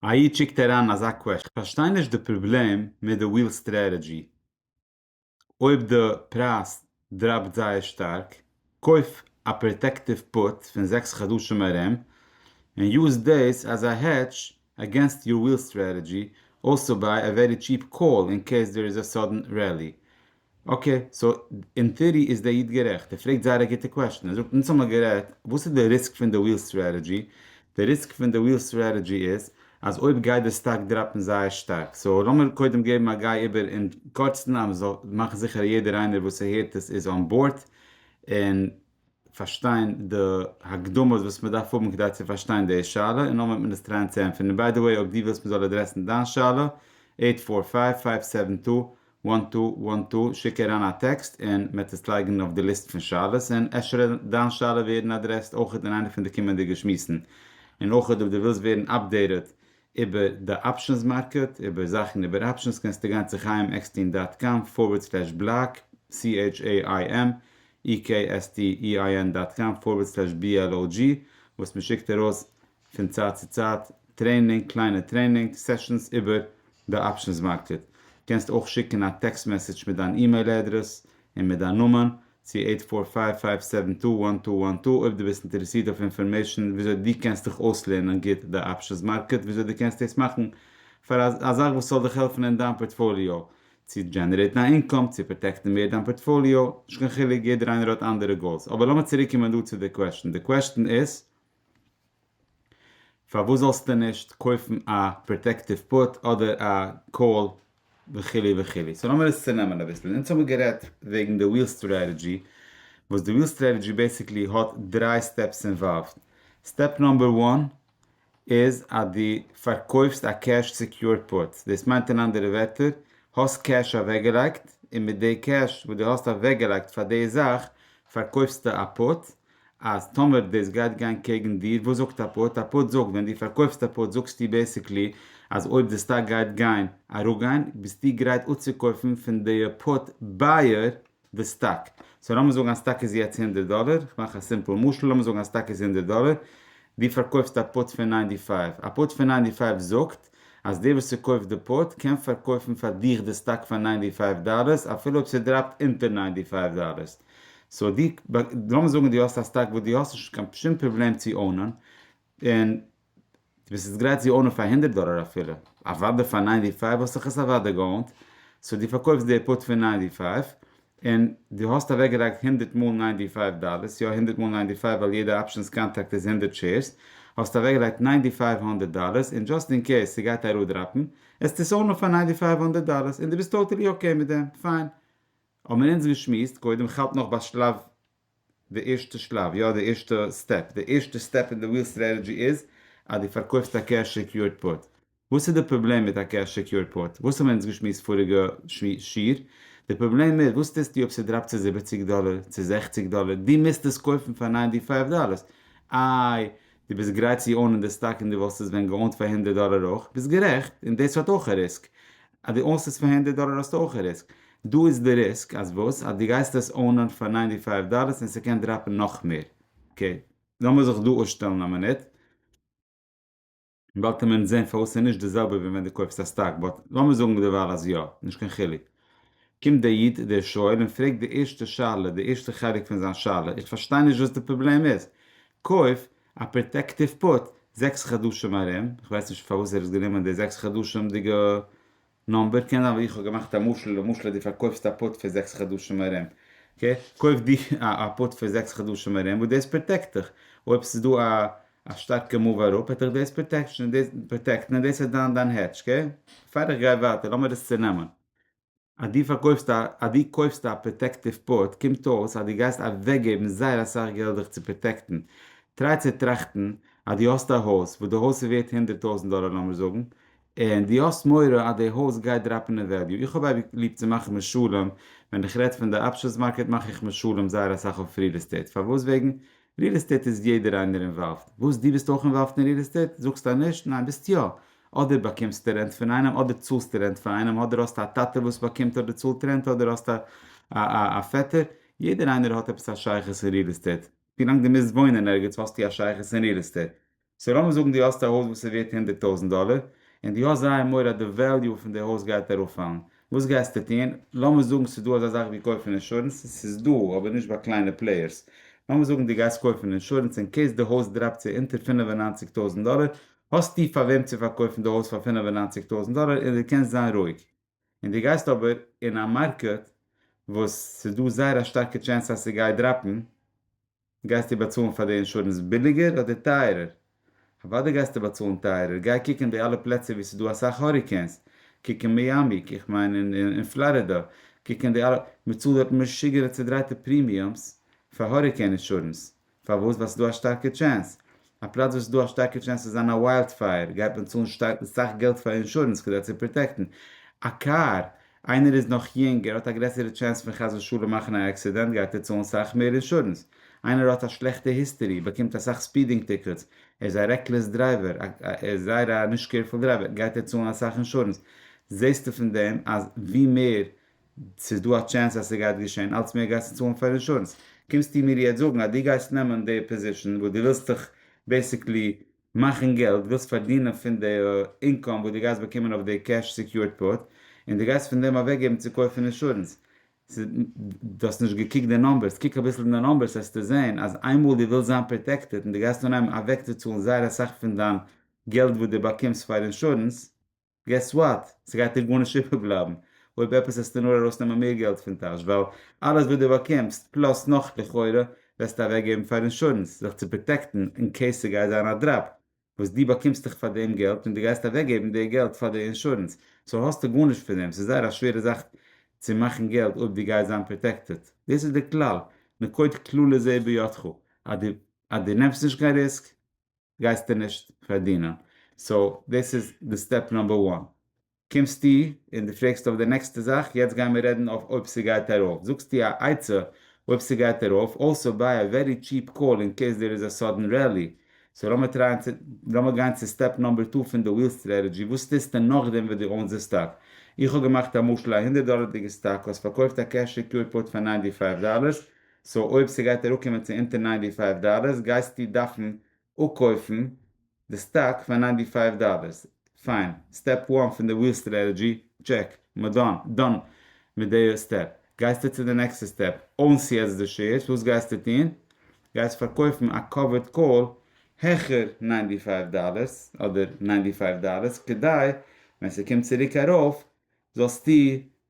א איד שיקט אריין אזא קוועשטען. כ'פארשטיי נישט די פראבלעם מיט די וויל סטרעטעדזשי. אויב די פרייז דראפט זייער שטארק, קויף א פראטעקטיוו פוט פון זעקס חדשים ארום, און יוז דאס עז א העדזש עגענסט יור וויל סטרעטעדזשי, אלסא ביי א ווערי טשיעפ קאל אין קעיס דער איז א סאדען רעלי. אקעי, סאו אין טעארי איז דער איד גערעכט, ער פרעגט זייער א גוטע קוועשטען, ער זאגט אונז האמיר גערעדט וואס איז די ריסק פון די וויל סטרעטעדזשי, די ריסק פון די וויל סטרעטעדזשי איז אז אויב גייט די סטאק דראפען זייער שטארק, סאו לאמיר קודם געבן א גיי איבער אין קורצן אז מען זאל מאכן זיכער אז יעדער איינער וואס ער הערט עס איז אן באורד און. פארשטיין די הקדמות וואס מען דארף האבן כדי צו פארשטיין די שאלה און נאכדעם וועט מען עס טרייען צו ענטפערן און ביי די וועי אויב דו ווילסט מען זאל עדרעסן דיין שאלה עיט פאר פייוו פייוו סעווען טו וואן טו וואן טו שיק אריין א טעקסט און מען וועט עס לייגן אויף די ליסט פון שאלות און אפשר וועט דיין שאלה ווערן עדרעסט אויכעט אין איינע פון די קומענדיגע שמועסן און אויכעט אויב דו ווילסט ווערן אפדעיטעד איבער די אפשענס מארקעט, איבער זאכן איבער אפשענס קענסטו גיין צו חיים עקסטין דאט קאם פארווערד סלעש בלאק, CHAIMEKSTEIN דאט קאם פארווערד סלעש BLOG, וואס מען שיקט ארויס פון צייט צו צייט טרעינינג, קליינע טרעינינג סעשאנס איבער די אפשענס מארקעט. קענסט אויך שיקן א טעקסט מעסעדזש מיט דיין אימעיל אדרעס און מיט דיין נאמען צו עיט פאר פייוו פייוו סעווען טו וואן טו וואן טו אויב דו ביסט אינטערעסירט אויף אינפארמעישן וויאזוי דו קענסט דיך אויסלערנען גוט די אפשענס מארקעט וויאזוי דו קענסט דאס מאכן פאר א א זאך וואס זאל דיך העלפן אין דיין פארטפאליאו צו דזשענערעיטן א אינקאם צו פראטעקטן מער דיין פארטפאליאו נישט קיין חילוק יעדער איינער האט אנדערע גאולס אבער לאמיר צוריק קומען דא צו די קוועשטן די קוועשטן איז פארוואס זאלסטו נישט קויפן א פראטעקטיוו פוט אדער א קאול וכו' וכו'. סאו לאמיר עס צונעמען אביסל. אונז האבן גערעדט וועגן די וויל סטרעטעדזשי, וואס די וויל סטרעטעדזשי בעסיקלי האט דריי סטעפס אינוואלווד. סטעפ נאמבער וואן איז אז דו פארקויפסט א קעש סעקיורד פוט. דאס מיינט אין אנדערע ווערטער, האסט קעש אוועקגעלייגט, און מיט די קעש וואס דו האסט אוועקגעלייגט פאר די זאך פארקויפסטו א פוט, אז טאמער דאס גייט גיין קעגן דיר, וואס זאגט א פארט? א פארט זאגט, ווען דו פארקויפסט א פארט זאגסטו בעסיקלי אז אויב די סטאק גייט גיין, אראפגיין, ביסטו גרייט אפצוקויפן פון די פארט בייער די סטאק. סאו לאמיר זאגן א סטאק איז יעצט הונדערט דאלער, איך מאך א סימפל משל, לאמיר זאגן א סטאק איז הונדערט דאלער, דו פארקויפסט א פארט פון ניינטי פייוו, א פארט פון ניינטי פייוו זאגט אז דער וואס ס'קויפט די פארט קען פארקויפן פאר דיך די סטאק פאר ניינטי פייוו דאלערס אפילו אויב ס'דראפט אונטער ניינטי פייוו דאלערס, סאו די, לאמיר זאגן די האסט א סטאק וואס די האסט נישט קיין שום פראבלעם צי אונען, און די ביסט יעצט גרייט צי אונען פאר הונדערט דאלער אפילו, אוודאי פאר ניינטי פייוו וואלט זיך עס אוודאי געאונט, סאו די פארקויפסט די פוט פון ניינטי פייוו, און די האסט אוועק געלייגט הונדערט מאל ניינטי פייוו דאלערס, יא הונדערט מאל ניינטי פייוו ווייל יעדע אפשענס קאנטראקט איז הונדערט שעירס, האסט אוועק געלייגט ניינטי פייוו הונדערט דאלערס, און דזשאסט אין קעיס ס'גייט אראדראפן, העסטו עס אונען פאר ניינטי פייוו הונדערט דאלערס, און די ביסט טאטעלי אקעי מיט דעם, פיין, האבן מיר אונז געשמועסט קודם כ'האלט נאך ביי שלב די ערשטע שלב יא די ערשטע סטעפ די ערשטע סטעפ אין די וויל סטרעטעדזשי איז אז די פארקויפסט א קעש סעקיורד פוט וואס איז די פראבלעם מיט א קעש סעקיורד פוט וואס האבן מיר אונז געשמועסט פאריגע שיעור די פראבלעם איז וואס טוסטו אויב ס'דראפט צו זיבעציג דאלער צו זעכציג דאלער דו מוזט עס קויפן פאר ניינטי פייוו דאלער איי דו ביסט גרייט צו אוינען די סטאק און דו וואלסט עס ווען געאוינט פאר הונדערט דאלער אויך, ביסט גערעכט, און דאס האט אויך א ריסק, אז דו אוינסט עס פאר הונדערט דאלער האסטו אויך א ריסק, דא איז די ריסק אז וואס? אז דו גייסט עס אוינען פאר ניינטי פייוו דאלער און ס'קען דראפן נאך מער, אקעי, לאמיר זיך דא אפשטעלן א מינוט, באלד קען מען זען פארוואס ס'איז נישט די זעלבע ווי ווען דו קויפסט א סטאק, באט לאמיר זאגן דערווייל אז יא, נישט קיין חילוק. קומט דער איד דער שואל און פרעגט די ערשטע שאלה, די ערשטע חלק פון זיין שאלה, איך פארשטיי נישט וואס די פראבלעם איז, קויף א פראטעקטיוו פוט זעקס חדשים ארום, איך ווייס נישט פארוואס ער האט גענומען די זעקס חדשים'דיגע נומבער, קען זיין ווייל איך האב געמאכט א משל, למשל דו פארקויפסט א פוט פאר זעקס חדשים ארום, קויף דו א פוט פאר זעקס חדשים ארום וואס דאס פראטעקט דיך, אויב ס'איז דא א א שטארקע מאוו אראפ העט דיך דאס פראטעקטן און דאס איז דיין דיין העדזש קעי? פאר איך גיי ווייטער לאמיר עס צונעמען אז דו פארקויפסט א אז דו קויפסט א פראטעקטיוו פוט קומט אויס אז דו גייסט אוועקגעבן זייער אסאך געלט דיך צו פראטעקטן טריי צו טראכטן אז דו האסט א הויז וואס די הויז איז ווערט הונדערט טויזענט דאלער לאמיר זאגן און דו האסט מורא אז די הויז גייט דראפן אין וועליו? איך האב אייביג ליב צו מאכן משלים, ווען איך רעד פון די אפשענס מארקעט מאך איך משלים זייער אסאך אויף ריעל עסטעיט, פארוואס? וועגן ריעל עסטעיט איז יעדער איינער אינוואלווד, וואס? דו ביסט אויך אינוואלווד אין ריעל עסטעיט? זאגסטו נישט? ניין ביסט יא, אדער באקומסטו רענט פון איינעם, אדער צאלסטו רענט פאר איינעם, אדער האסטו א טאטע וואס באקומט אדער צאלט רענט, אדער האסטו א א פעטער, יעדער איינער האט עפעס א שייכות אין ריעל עסטעיט, ווילאנג דו מוזט וואוינען ערגעץ האסטו א שייכות אין ריעל עסטעיט, סאו לאמיר זאגן דו האסט א הויז וואס איז ווערט הונדערט טויזנט דאלער, און דו האסט זייער מורא אז די וועליו פון די הויז גייט אראפפאלן, וואס גייסטו טון? לאמיר זאגן ס'איז דא אזא זאך ווי קויפן אינשורענס, עס איז דא, אבער נישט ביי קליינע פלעיערס, לאמיר זאגן דו גייסט קויפן אינשורענס אין קעיס די הויז דראפט צו אונטער פֿינף און נײַנציק טויזנט דאלער, האסטו פאר וועם צו פארקויפן די הויז פאר פֿינף און נײַנציק טויזנט דאלער און דו קענסט זיין רואיג, און דו גייסט אבער אין א מארקעט וואס ס'איז דא זייער א שטארקע טשענס אז ס'גייט דראפן, גייסטו באצאלן פאר די אינשורענס ביליגער אדער טייערער? אוודאי גייסטו באצאלן טייערער, גיי קוק אין די אלע פלעצער וואו ס'דא אסאך האריקעינס, קוק אין מיאמי, איך מיין אין פלארידא, קוק אין די אלע, מ'צאלט דארט משוגענע צודרייטע פרימיומס פאר האריקעין אינשורענס, פארוואס? ווייל ס'דא א שטארקע טשענס א פלאץ וואס איז דא א שטארקע טשענס צו זיין א וויילד פייער גייט מען צאלן סאך געלט פאר אינשורענס כדי צו פראטעקטן א קאר, איינער איז נאך יונג ער האט א גרעסערע טשענס פון חס ושלום מאכן א עקסידענט גייט ער צאלן סאך מער אינשורענס, איינער האט א שלעכטע היסטערי באקומט אסאך ספידינג טיקעטס, ער איז א רעקלעס דרייווער ער איז זייער א נישט קעירפול דרייווער גייט ער צאלן אסאך אינשורענס, זעסטו פון דעם אז ווי מער ס'איז דא א טשענס אז ס'גייט געשען, אלץ מער גייסטו צאלן פאר אינשורענס, קומסטו מיר יעצט זאגן אז דו גייסט נעמען די פאזישן וואס דו ווילסט דיך בעיסיקלי מאכן געלט, ווילסט פארדינען פון די אינקאם וואס דו גייסט באקומען אויף די קעש סעקיורד פארט, און דו גייסט פון דעם אוועקגעבן צו קויפן אינשורענס? דו האסט נישט געקוקט די נאמבערס, קוק אביסל אין די נאמבערס וועסטו זען אז איינמאל דו ווילסט זיין פראטעקטעד און דו גייסט אנהייבן אוועקצוצאלן זייער אסאך פון דיין געלט וואס דו באקומסט פאר אינשורענס, געס וואט? ס'גייט דיר גארנישט איבערבלייבן, אויב עפעס וועסטו נאר ארויסנעמען מער געלט פון טאש, ווייל אלעס וואס דו באקומסט, פלאס נאך לכאורה, וועסטו אוועקגעבן פאר אינשורענס, זיך צו פראטעקטן אין קעיס ס'גייט זיין א דראפ, וואס דו באקומסט דיך פאר דעם געלט און דו גייסט אוועקגעבן די געלט פאר די אינשורענס, סאו האסטו גארנישט פון דעם, ס'איז זייער א שווערע זאך צו מאכן געלט אויב דו גייסט זיין פראטעקטעד, דאס איז די כלל, נקוט כללי זה בידך, אז דו נעמסט נישט קיין ריסק, גייסטו נישט פארדינען, סאו דאס איז די סטעפ נאמבער וואן, קומסטו און די פרעגסט אויף די נעקסטע זאך, יעצט גייען מיר רעדן אויף אויב ס'גייט ארויף, זאגסטו א עצה אויב ס'גייט ארויף, אלסא ביי א ווערי טשיעפ קאל אין קעיס דער איז א סאדען רעלי, סאו לאמיר טרייען צו לאמיר גיין צו סטעפ נאמבער טו פון די וויל סטרעטעדזשי, וואס טוסטו נאכדעם וואס דו אוינס די סטאק, איך האב געמאכט א משל א הונדערט דאלערדיגע סטאק, האסט פארקויפט א קעש סעקיורד פוט פאר ניינטי פייוו דאלערס, סאו אויב ס'גייט אראפקומען צו אונטער ניינטי פייוו דאלערס גייסטו דארפן אפקויפן די סטאק פאר ניינטי פייוו דאלערס, פיין, סטעפ וואן פון די וויל סטרעטעדזשי, טשעק, מיר דאן, דאן מיט די סטעפ, גייסטו צו די נעקסטע סטעפ, אונס'ו יעצט די שעירס, וואס גייסטו טון? גייסט פארקויפן א קאווערד קאל העכער ניינטי פייוו דאלערס אדער ניינטי פייוו דאלערס כדי ווען ס'קומט צוריק ארויף זאלסטו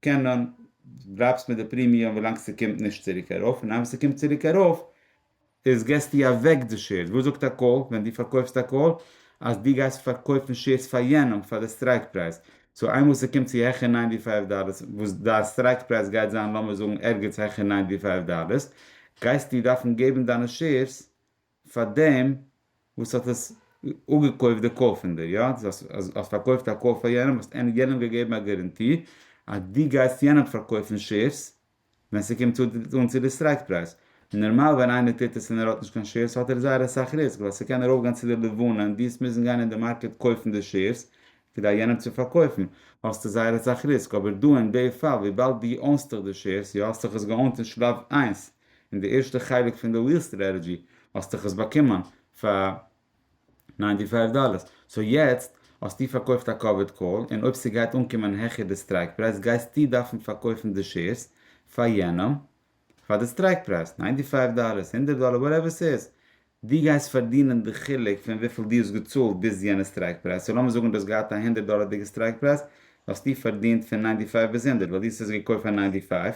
קענען דראפסט מיט די פרימיום ווילאנג ס'קומט נישט צוריק ארויף, און איין וואס ס'קומט צוריק ארויף איז געסטו אוועק די שעירס, וואס זאגט א קאל ווען דו פארקויפסט א קאל אז דו גייסט פארקויפן שעירס פאר יענעם פאר די סטרייק פרייז, סאו איינמאל ס'קומט צו העכער ניינטי פייוו דאלער וואס דיין סטרייק פרייז גייט זיין לאמיר זאגן ערגעץ העכער ניינטי פייוו דאלער גייסטו דארפן געבן דיינע שעירס פאר דעם וואס האט עס אפגעקויפט די קאר פון דיר, יא? דאס אז האסט פארקויפט א קאר פאר יענעם האסט ענק יענעם געגעבן א גערענטי אז דו גייסט יענעם פארקויפן שעירס ווען ס'קומט אן צו די סטרייק פרייז. נארמאל ווען איינער טוט עס און ער האט נישט קיין שעירס האט ער זייער אסאך ריסק ווייל ס'קען ארויפגיין צו די לבנה און דו האסט מוזן גיין אין די מארקעט קויפן די שעירס כדי יענעם צו פארקויפן האסטו זייער אסאך ריסק אבער דא אין די פאל וויבאלד דו אונסטעך די שעירס, יא האסטעך עס געאונט אין שלב איינס, און די ערשטע חלק פון די וויל סטרעטעדזשי האסטעך עס באקומען פאר ניינטי פייוו דאללערס, סאו יעצט האסטו פארקויפט א קאוויד קאל און אויב ס'גייט אנקומען העכער די סטרייק פרייז גייסטו דארפן פארקויפן די שעירס פאר יענעם פאר די סטרייק פרייז, ניינטי פייוו דאללערס, הונדערט דאללער, וואטעווער ס'איז, דו גייסט פארדינען די חילוק פון וויפיל דו האסט געצאלט ביז יענע סטרייק פרייז, סאו לאמיר זאגן דו האסט געהאט א הונדערט דאללערדיגע סטרייק פרייז, האסטו פארדינט פון ניינטי פייוו ביז הונדערט ווייל דו האסט עס געקויפט פאר ניינטי פייוו.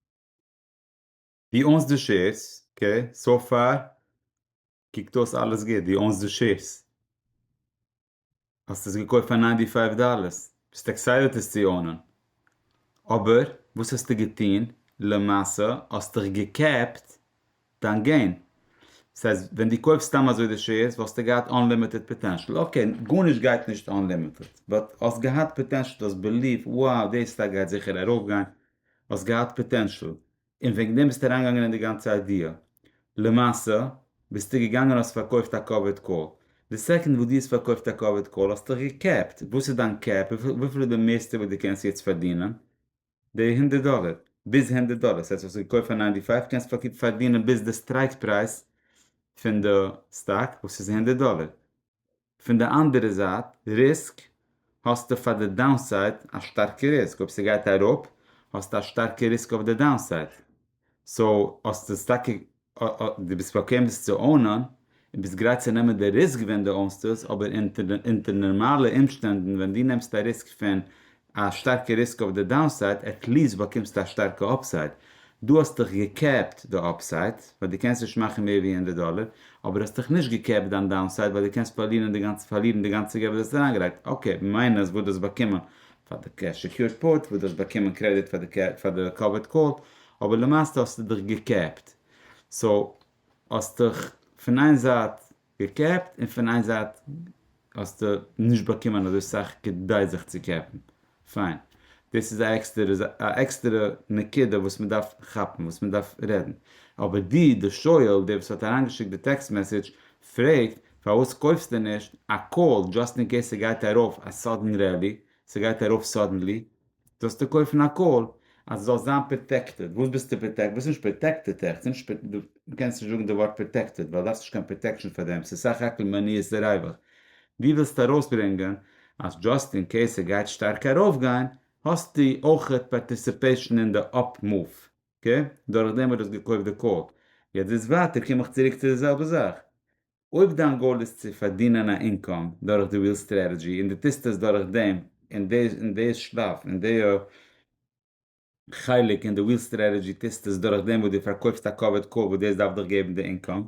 ווי אונז די שעירס, קעי, סאו פאר קוקט אויס אלעס גוט, ווי אונז די שעירס. האסט עס געקויפט פאר ניינטי פייוו דאללערס, ביסט עקסיידעט עס צו אונען, אבער וואס האסטו געטון, למעשה האסטוך געקעפט דיין געין, דאס הייסט ווען דו קויפסט סתם אזוי די שעירס וואלסטו געהאט אנלימיטעד פאטענשל, אקעי גארנישט גייט נישט אנלימיטעד, באט האסט געהאט פאטענשל, דו האסט בעליווט, wow דעי סטאק גייט זיכער ארויפגיין, האסט געהאט פאטענשעל און וועגן דעם ביסטו אריינגעגאנגען אין די גאנצע איידיע, למעשה ביסטו געגאנגען און האסט פארקויפט א קאווערד קאל, די סעקאנד וואס דו האסט פארקויפט א קאווערד קאל האסטוך געקעפט, וואס איז דיין קעפ, וויפיל איז די מערסטע וואס דו קענסט יעצט פארדינען, די הונדערט דאלער, ביז הונדערט דאלער, ס'הייסט וואס האסט געקויפט פאר ניינטי פייוו קענסט פארדינען ביז די סטרייק פרייז פון די סטאק וואס איז הונדערט דאלער, פון די אנדערע זייט ריסק האסטו פאר די דאונסייד א שטארקע ריסק, אויב ס'גייט אראפ האסטו א שטארקע ריסק אויף די דאונסייד, סאו האסטו עס טאקע דו ביסט באקוועם עס צו אונען און ביסט גרייט צו נעמען די ריסק ווען דו אונסט עס, אבער אונטער נארמאלע אומשטענדן ווען דו נעמסט א ריסק פון א שטארקע ריסק אויף די דאונסייד, עט ליעסט באקומסטו א שטארקע אפסייד, דא האסטיך געקעפט די אפסייד, ווייל דו קענסט נישט מאכן מער ווי הונדערט דאלער, אבער האסטיך נישט געקעפט דיין דאונסייד ווייל דו קענסט פארלירן די גאנצע פארלירן די גאנצע געלט וואס דו האסט אריינגעלייגט, אקעי, מיינוס וואס דו האסט באקומען פאר די סעקיורד פוט, וואס דו האסט באקומען קרעדיט פאר די פאר די קאווערד קאל, אבער למעשה האסטו דיך געקעפט, סאו האסטיך פון איין זייט געקעפט און פון איין זייט האסטו נישט באקומען אזוי סאך כדי זיך צו קעפן, פיין, דאס איז א עקסטערע נקודה וואס מען דארף כאפן, וואס מען דארף רעדן, אבער דו דער שואל, דער וואס האט אריינגעשיקט די טעקסט מעסעדזש, פרעגט פארוואס קויפסטו נישט א קאל דזשאסט אין קעיס ס'גייט ארויף א סאדען רעלי, ס'גייט ארויף סאדענלי, זאלסטו קויפן א קאל אז זאלסט זיין פראטעקטעד, וואס ביסטו פראטעקטעד? ביסט נישט פראטעקטעד עכט, דו קענסט נישט זאגן די ווארט פראטעקטעד ווייל דארפסט נישט קיין פראטעקשן פאר דעם, ס'איז סך הכל מניעת דעריבער, דו ווילסט ארויסברענגען אז דזשאסט אין קעיס ס'גייט שטארק ארויפגיין האסטו אויך פארטיסיפעישן אין די אפ מאוו, אקעי? דורכדעם וואס דו האסט געקויפט די קאל, יעצט ביז ווייטער קום איך צוריק צו די זעלבע זאך, אויב דיין גאול איז צו פארדינען א אינקאם דורך די וויל סטרעטעדזשי און די טוסט עס דורך דעם און דעיס און דעיס שלאף און דעיע חלק און די וויל סטרעטעדזשי טוסט עס דורך דעם וואס די פארקויפסט א קאווערט קאל וואס דעיס דארף דיך געבן די אינקאם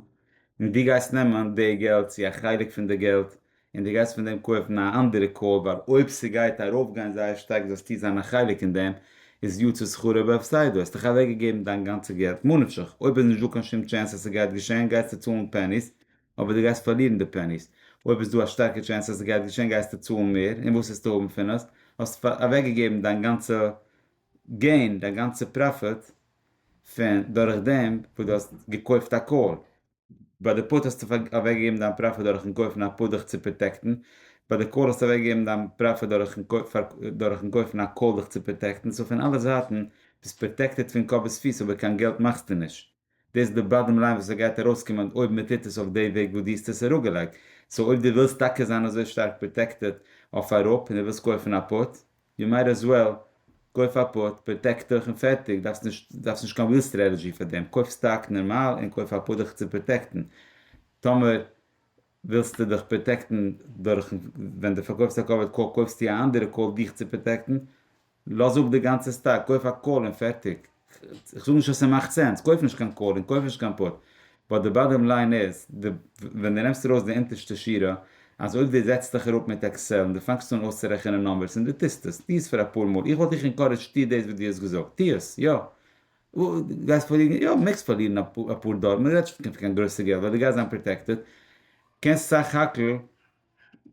און די גייסט נעמען די געלט צו א חלק פון די געלט און די גייסט פון דעם קויפן א אנדערע קאר ווייל אויב ס'גייט ארויפגיין זייער שטארק זאלסטו זיין א חלק אין דעם, איז יצא שכרו בהפסדו, האסט דאך אוועקגעגעבן דיין גאנצע געלט מנפשך, אויב איז נישט דא קיין שום טשענס אז ס'גייט געשען גייסטו צאלן פעניס, אבער די גייסט פארלירן די פעניס, אויב איז דא א שטארקע טשענס אז ס'גייט געשען גייסטו צאלן מער, און וואס העסטו האבן פון עס? האסט אוועקגעגעבן דיין גאנצע געין, דיין גאנצע פראפיט פון דורך דעם וואס דו האסט געקויפט א קאר. ביי די פוט האסטו אוועקגעגעבן דיין פראפיט דורכן קויפן א פוט דיך צו פראטעקטן, ביי די קאל האסטו אוועקגעגעבן דיין פראפיט דורכן קויפן א קאל דיך צו פראטעקטן, סאו פון אלע זייטן ביסט פראטעקטעד פון קאפ ביז פיס אבער קיין געלט מאכסטו נישט, דאס איז די באדעם ליין וואס עס גייט ארויסקומען אויב מען טוט עס אויף די וועג וואס דו האסט עס אראפגעלייגט, סאו אויב דו ווילסט טאקע זיין אזוי שטארק פראטעקטעד אויף אראפ און דו ווילסט קויפן א פוט, יו מייט עז וועל גוי פאר פוט, פראטעקט דיך און פערטיג, דארפסט נישט דארפסט נישט קיין ריעל סטרעטעזשי פאר דעם, קויף סטאק נארמאל און קויף א פוט דיך צו פראטעקטן, טאמער ווילסטו דיך פראטעקטן דורכן ווען די פארקויפסט א קאווערד קאל קויפסטו א אנדערע קאל דיך צו פראטעקטן, לאז אפ די גאנצע סטאק, קויף א קאל און פערטיג. איך זאג נישט אז ס'מאכט סענס, קויף נישט קיין קאל און קויף נישט קיין פוט, באט די באדאם ליין איז, ווען דו נעמסט ארויס די אונטערשטע שורה, אז אויב דו זעצט דיך אראפ מיט עקסעל און דו פאנגסט אן אויסצורעכענען נומבערס און דו טוסט עס, טו עס פאר אפאר מאל, איך וואלט דיך אינקארעדזשט טו דאס וואס דו האסט געזאגט, טו עס, יא, גייסט פארלירן, יא, מעגסט פארלירן אפאר דאלער, מ'רעדט נישט פון קיין גרויסע געלט ווייל דו גייסט זיין פראטעקטעד, קענסט סך הכל.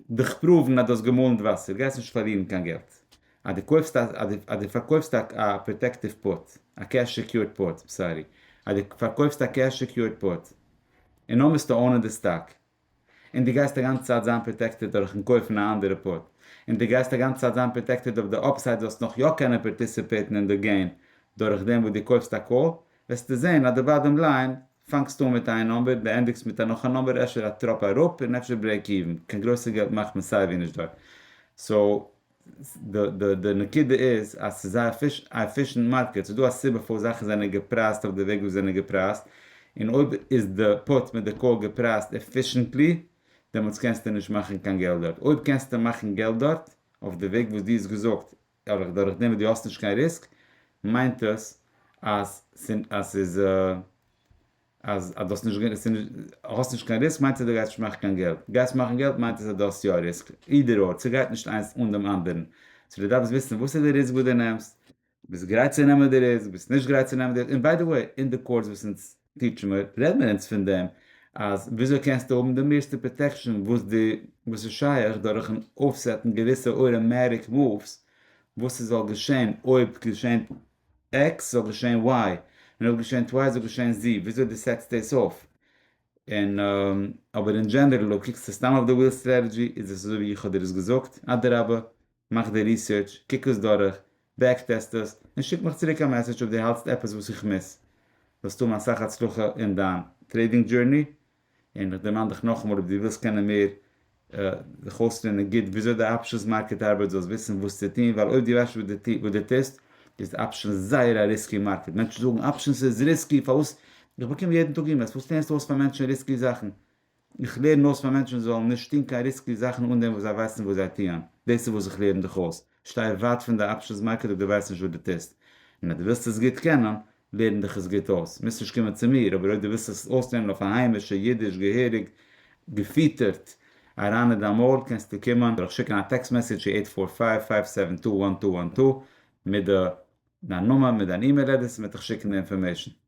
דיך פראוון אז דו האסט געמאלן די וואסער, גייסט נישט פארלירן קיין געלט אז דו קויפסט א, אז דו פארקויפסט א פראטעקטיוו פוט, א קעש סעקיורד פוט, סארי, אז דו פארקויפסט א קעש סעקיורד פוט, און נאר מוזטו אונען די סטאק, און דו גייסט א גאנצע צייט זיין פראטעקטעד דורכן קויפן א אנדערע פוט, און דו גייסט א גאנצע צייט זיין פראטעקטעד אויף די אפסייד זאלסט נאך יא קענען פארטיסיפעיטן אין די געים דורכדעם וואס דו קויפסט א קאל, וועסטו זען אז די באדעם ליין פאנגסט אן מיט איין נומבער, די ענדיגסט מיט א נאך א נומבער, אפשר א טראפ אראפ און אפשר ברעיק איווען, קיין גרויסע געלט מאכט מען סייווי נישט דארט, סאו די נקודה איז אז ס'איז א עפישענט מארקעט, ס'איז דא א סיבה פארוואס זאכן זענען געפרייזט אויף די וועג ווי זיי זענען געפרייזט, און אויב איז די פוט מיט די קאל געפרייזט עפישענטלי, דעמאלטס קענסטו נישט מאכן קיין געלט דארט, אויב קענסטו מאכן געלט דארט אויף די וועג וואס דו האסט געזאגט אבער דורך דעם וואס דו האסט נישט קיין ריסק מיינט עס אז ס'איז אז דו האסט נישט האסט נישט קיין ריסק מיינט עס אז דו גייסט נישט מאכן קיין געלט, גייסט מאכן געלט מיינט עס אז דו האסט יא ריסק, אידער אור, ס'גייט נישט איינס אן דעם אנדערן, סאו דו דארפסט וויסן וואס איז די ריסק וואס דו נעמסט, ביסט גרייט צו נעמען די ריסק, ביסט נישט גרייט צו נעמען די ריסק, און ביי די וועי אין די קאורס וואס אונז טיטשער מיר רעד מיר אונז פון דעם אז וויאזוי קענסטו האבן די מערסטע פראטעקשען וואס די וואס איז שייך דורכן אויפסעטן געוויסע אוירעמעריק מאווס וואס עס זאל געשען אויב געשענט עקס זאל געשען וויי און אויב געשענט וויי זאל געשען זי וויאזוי די סעטסט דאס אויף און אבער און דזשענערל אויב קוקסטו סתם אויף די וויל סטרעטעדזשי איז עס אזוי ווי איך האב דיר עס געזאגט אדרבה מאך די ריסערטש, קוק עס דורך, בעק טעסט עס, און שיק מיך צוריק א מעסעדזש אויב דו האלטסט עפעס וואס איך מיס. וועסט האבן אסאך הצלחה אין דיין טרעידינג דזשורני, און איך דערמאן דיך נאכאמאל אויב דו ווילסט קענען מער זיך אויסלערנען גוט וויאזוי די אפשענס מארקעט ארבייט זאלסט וויסן וואס צו טון ווייל אויב דו ווייסט נישט וואס דו טוסט איז אפשענס זייער א ריסקי מארקעט, מענטשן זאגן אפשענס איז ריסקי פארוואס איך באקום יעדן טאג אימעילס פארוואס לערנסטו אויס פאר מענטשן ריסקי זאכן? איך לערן אויס פאר מענטשן זאלן נישט טון קיין ריסקי זאכן אן דעם וואס זיי ווייסן וואס זיי טוען, דאס איז וואס איך לערן דיך אויס, שטיי ווייט פון די אפשענס מארקעט אויב דו ווייסט נישט וואס דו טוסט, און אז דו ווילסט עס גוט קענען, לערן דיך עס גוט אויס, מוזט נישט קומען צו מיר, אבער אויב דו ווילסט עס אויסלערנען אויף א היימישע אידיש געהעריג געפיטערט אריין אין דיין מויל קענסטו קומען דורך שיקן א טעקסט מעסעדזש צו עיט פאר פייוו פייוו סעווען טו וואן טו וואן טו מיט דיין נאמען מיט דיין אימעיל עדרעס און מען וועט דיך שיקן די אינפארמעישן.